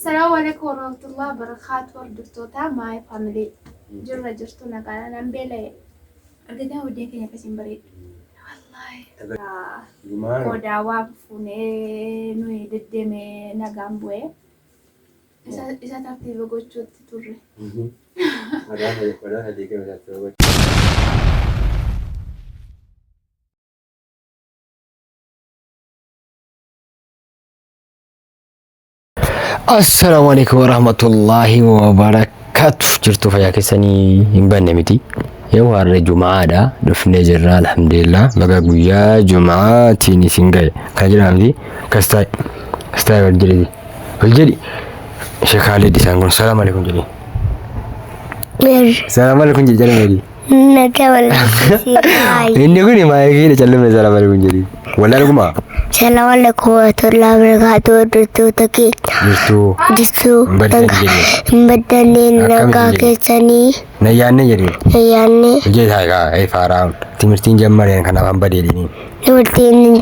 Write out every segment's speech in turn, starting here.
Salamu alaikum warahmatullahi wabarakatuh hordoftoota my family jirra jirtu nagaadha nan beela'e argitan hojii keenya akkasiin bareeddu wallahi boodaa waan fuunee nuyi deddeeme nagaan bu'ee isa tartiiba gochuutti turre. Assalaamu alaikum warahmatullaahi wabarakaatu jirtu fayyaa keessanii hin banne miti yoo har'a jumaadha dhufnee jirra alhamdulillah baga guyyaa jumaatiin isin ga'e kan jedhamu fi kastaa kastaa wal jedhi wal jedhi sheekaalee disaan kun salaam alaikum jedhi Mir. salaam alaikum jedhi jedhi Nagaa walakkeessii baay'ee. Inni kun maayikiidha callume sana bari kun jedhi. Walaa dhuguma. Salaam alaikum warahmatullahi wabarakatuh hordoftoota keenya. Jirtuu. Jirtuu Hin baddan jenne. hin baddannee Akkamitti nagaa jenne? keessanii Nayyaanne jedhi. yaadne Ijee isaa egaa ee faaraa timirtiin jammareen kanaaf hamba deedini. dubartiin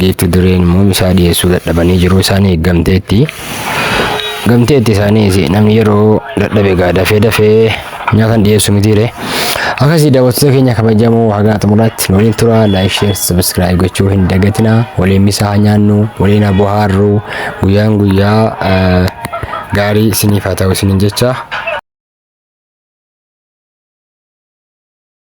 Giifti dureen immoo misaa dhiyeessuu dadhabanii jiruu isaanii eeggamteetti. Gamteetti isaaniis namni yeroo dadhabe egaa dafee dafee nyaata dhiyeessu mitiire. Akkasii daawwattoota keenya kabajamoo hagaa xumuraatti nu waliin tura laayik sheer sabiskiraayib gochuu hin dagatina waliin misaa haa nyaannu waliin haa bohaarru guyyaan guyyaa eh, gaarii isiniif haa ta'u isiniin jecha.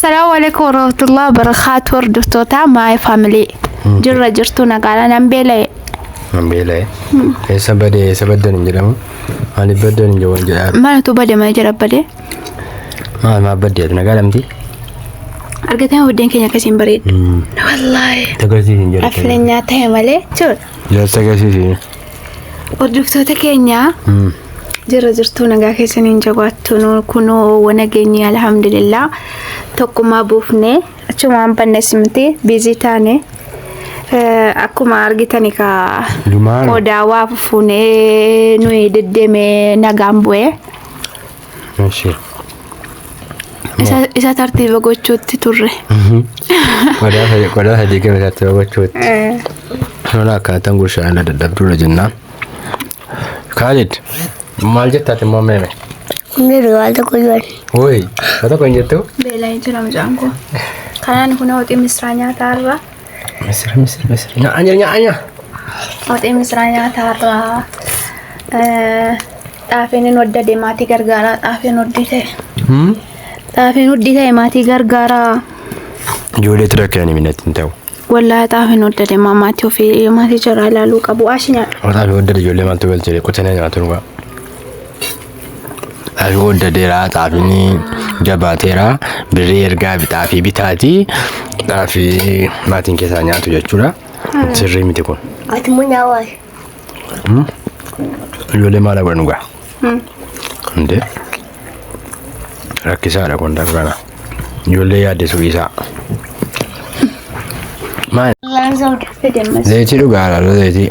Salaamu alaikum warahmatullahi wabarakatuh hordoftoota my family jirra jirtu nagaadha nan beela'e Nan beela'e. Eessa bade eessa baddan hin jedhamu. Maaliif baddan hin jedhamu jedhaa. maaltu bade mana jira bade Maal maaf baddeet nagaa lamti. argatee buddeen keenya akkasiin bareedu wallaahi Tagarsiis hin jedhu. affileenyaa ta'e malee jiru Jaalsa agarsiisi. Hordoftoota keenya jirra jirtuu nagaa keessaniin jabaattu nu kunoo wana geenye alhamdulillah tokkummaa buufne achumaan banne simti biizii taane Eh, akkuma argitani ka Lumaan. qodaa waa fuunee nuyi deddeeme nagaan bu'ee. Eshi. Isa, isa tartiiba gochuutti turre. Qodaa sadii qodaa sadii kee keessatti gochuutti. Eh, Lola akkaataan gurshaa irra dadhabduudha jennaan. Kaalid maal jettaati immoo meeme? Hundee waan tokko jiran. Woi, haa tokko hin jettu? Beela'ee jira mucaan koo. Kanaan kun hooxii misraa nyaataa irraa. Misira misira misira nyaa nyaa nyaa nyaa. Waxii misiraa nyaataa irraa xaafiin hin hoddade maatii gargaaraa xaafiin hoddii ta'e. Xaafiin hoddii ta'e maatii gargaaraa. Ijoollee tura kan hin minatti hin ta'u. Wallaahi xaafiin hoddade maa maatii ofii maatii jaraa ilaaluu qabu. Ashi nyaadhu. Otaa fi waddada ijoollee maaltu galchee qotanii nyaatu dhugaa. Xaafii qooddateera, xaafiin jabaateera, birrii ergaa fi xaafii bitaati. Xaafii maatiin keessaa nyaatu jechuudha. Sirrii miti kun. Ati immoo nyaawaa. Ijoollee maal godhan dhugaa? Hundee. Rakkisaadha kun darba kana. Ijoollee yaaddesuu dhiisaa. Maal? Laan soda. Fedemmas. Zayitii dhugaadha zayitii.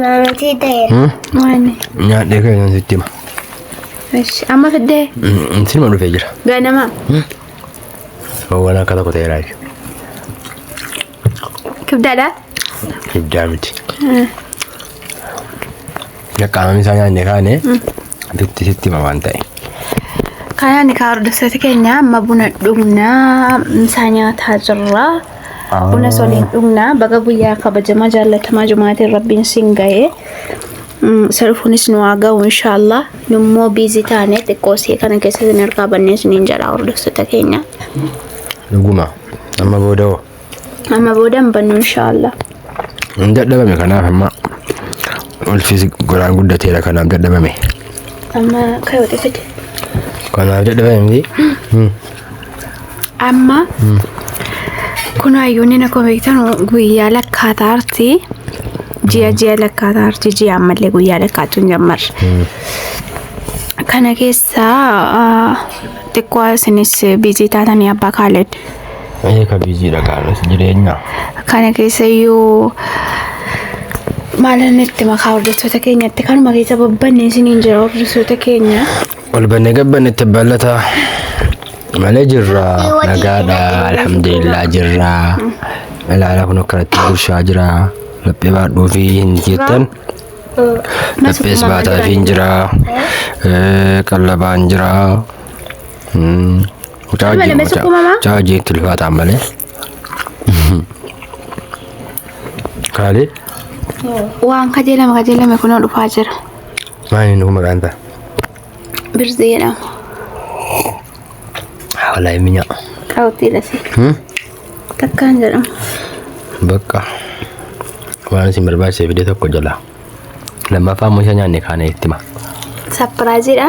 Maamatii ta'eera. Waan. Nyaadhee kee kan sitti hima. Ishi. Amma fiddee. Sinuma dhufee jira. Ganama. Waan akka tokko ta'eera jechuudha. Kibdaadha. Ibdaa miti. Qaamni isaa nyaanne kaane bitti sitti hima waan ta'e. Kanaan kaa hordoftoota keenya amma buna dhugnaa misaa nyaataa jirra. Buna soliin dhugnaa baga guyyaa kabajamaa jaallatamaa jumaatiin rabbiin siin ga'ee salfuunis nu haa ga'u inshaallah nummoo biizi taane xiqqoo see kana keessatti hin harkaa bannee siniin jedhaa hordoftoota keenya. Dhuguma. Amma booda hoo? Amma booda hin bannu inshaallah. Hin dadhabame kanaaf amma ulfis goraan guddateera kanaaf dadhabame. Amma ka'e wati fide. Kanaaf dadhabame miti. Hmm. Amma kun hayyoonni na kobeektan guyyaa lakkaataa arti. Ji'a ji'a lakkaataa arti ji'a ammallee guyyaa lakkaachuu hin jammarre. Kana keessaa ah, xiqqoo isinis biizii taatanii abbaa kaaled. Ee ka biizii dhaqaarras jireenya. Kana keessa iyyuu maalan itti makaa hordoftoota keenyatti kanuma keessa babbanne isiniin jira hordoftoota keenya. Ol banne gabbanne itti ballataa. Malee jirra nagaadha alhamdulillah jirra. Ilaala kun akkanatti gurshaa jira. Laphee baadhuu fi hin jettan. Laphees baataa fi hin jira. Qallabaan jira. Malee mee sukkuu mamaa? Caa jee tulfaataan malee. Kaalee Waan kajeelame kajeelame kunoo dhufaa jira. maali nuuf maqaan ta'a? Birzii jedhama. Walaa hin minyaa. Kaawwatii dhasi. Takkaan jedhama. Bakka waan isin barbaachise fide tokko jala. Lammaffaa immoo isa nyaanne kaanee itti hima. Sapiraayiziidha.